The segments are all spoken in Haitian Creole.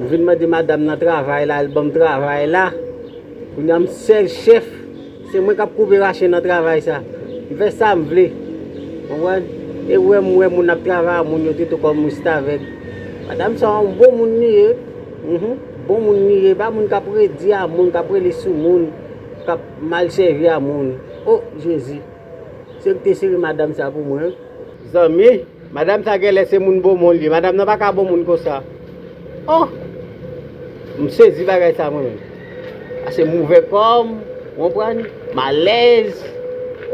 M vin mande madam nan travay la, l banm travay la. Kounya m sèl chèf, se mwen k ap koupe rache nan travay sa. M fè sa m vle. Konprann? E w wè m wè moun ap travay ak moun yo tou tou kòm restavèk. Madam sa yon bon moun li ye. Bon moun li ye. E pa moun k ap redi a moun, k ap rele sou moun, k ap mal sèvi a moun. O! Jezi! Se yo ki te sere madam sa pou mwen. Zanmi! Madam sa genlè se moun bomon liye madam nan paka bon moun konsa oh m sezi bagay sa mwen menm ase m ouvè kòm ou konprann m alèz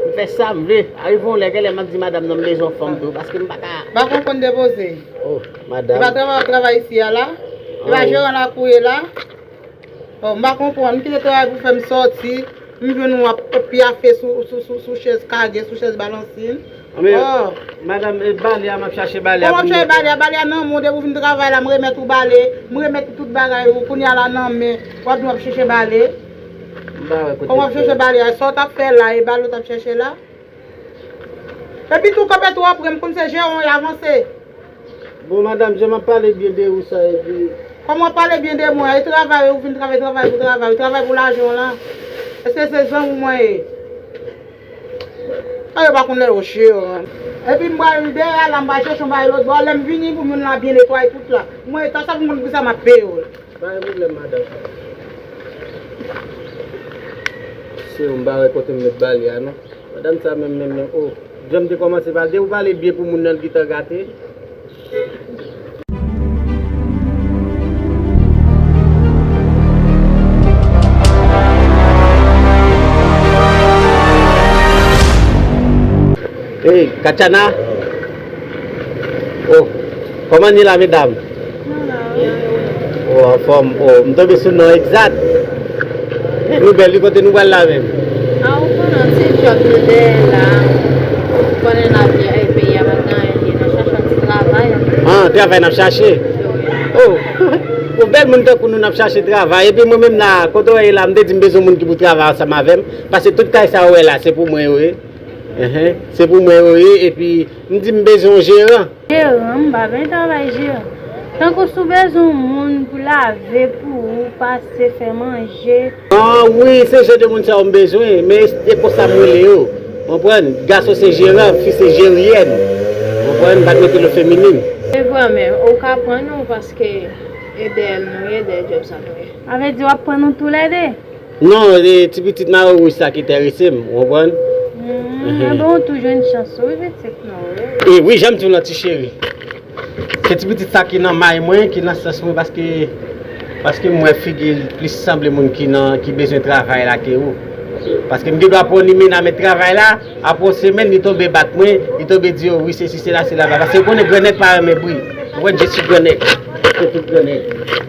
m fè sam vle arive yon lè genlè map di madam nan m bezwen yon fanm tou paske m paka Ba konn konn depoze oh madam. Se pa travay wap travay isi a la? Se pa jeran lakou ye la? Oh m pa konprann, m kite travay pou fè m sòti, m jwenn ou ap pyafe sou chèz kage, sou chèz balansin. Men, madam, e bale a, m ap chache bale a pou m mete la. Kòman w ap chache bale a? Bale a nan men w, depi w fin travay la, m remèt ou bale, m remèt ou tout bagay ou, kounya la nan men, w ap di w ap chèche bale? M pa wè kote. Kòman w ap chèche bale a? Sa w t ap fè la, e bale w t ap chèche la? Epi tou kanpe tou anpre m konn se je on y avanse. Bon madam jan map pale byen de ou sa epi. Kòm wap pale byen de mwen an e travay ou vin travay travay pou travay ou travay pou lajan w lan eske se zanmi w mwen ye. Sa yo pa konn lè yo je yo an. Epi m pral dèyè a la m pral chèche yon bagay lotbò a lè m vini pou moun la byen netwaye tout la. Mwen ta sa pou m konn kisa map peye w. Pa gen pwoblèm madanm. Siw m pa wè kotem met ba li a non. Madanm sa menm menm menm oh. Janm te kòmanse pale depi ou pale byen pou moun nan li gintan gate. Hey Katiana. Oh Koman ye la medam? Ou anfòm oh m tonbe sou non egzat Nou bèl wi kote nou pral la menm? Ah ou konnen se job nou dèyè la Ou konnen lavi a e peyi a pa gen anyen liye nan chache yon ti travay Ah travay nap chache Oh Bon bèl moun tankou nou nap chache travay epi mwen menm la kote w ye la m te di m bezwen moun ki pou travay ansanm avèm pase tout kay sa ou wè la se pou mwen yo ye. Se pou mwen yo ye epi m di m bezwen yon jeran. Jeran, m pa vle travay jeran. Tankou si w bezwen yon moun pou lave pou ou, pase, fè manje. An wi, se jan de moun sa yo m bezwen, men se konsa m rele yo. Konprann? Gason se jeran, fi se jeryèn. Konprann? M pa t mete l o feminin. Se vre men ou ka pran yon paske ede l nou ye de djòb sa nou ye. Sa vle di w ap pran nou toulède? Non se ti pitit mayo wouj sa ki terese m ou konprann. Humm anben ou tou jwenn chans ou wi pitit nou wi. E wi janm diw lan ti cheri. Se ti pitit sa ki nan may mwen ki nan sans mwen paske paske m wè figil plis sanble moun ki nan ki bezwen travay la ke ou. Paske m gen dwa pran limena met travay la aprè yon semèn li tonbe bat mwen li tonbe di yo wi sesi sela sela paske ou konnen gran nèg pa renmen bri ou konprann je si gran nèg.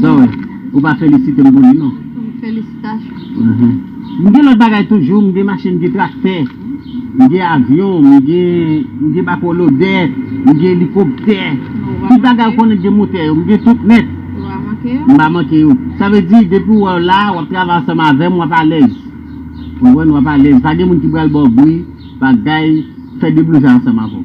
Sa w wè? Ou pa felisite m pou li non. Felisitasyon. M gen lòt bagay toujou, m gen machin, m gen traktè, m gen avyon, m gen bako lodè, m gen elikoptè. Tout bagay ou konnen ki gen motè yo, m gen tout nèt. M pa manke yo. Sa vle di, depi ou wè w la, w ap travay ansanm avè m, w ap alèz. Ou konprann? W ap alèz. Pa gen moun ki pral ba w bri, bagay, fè deblouzay ansanm avè w.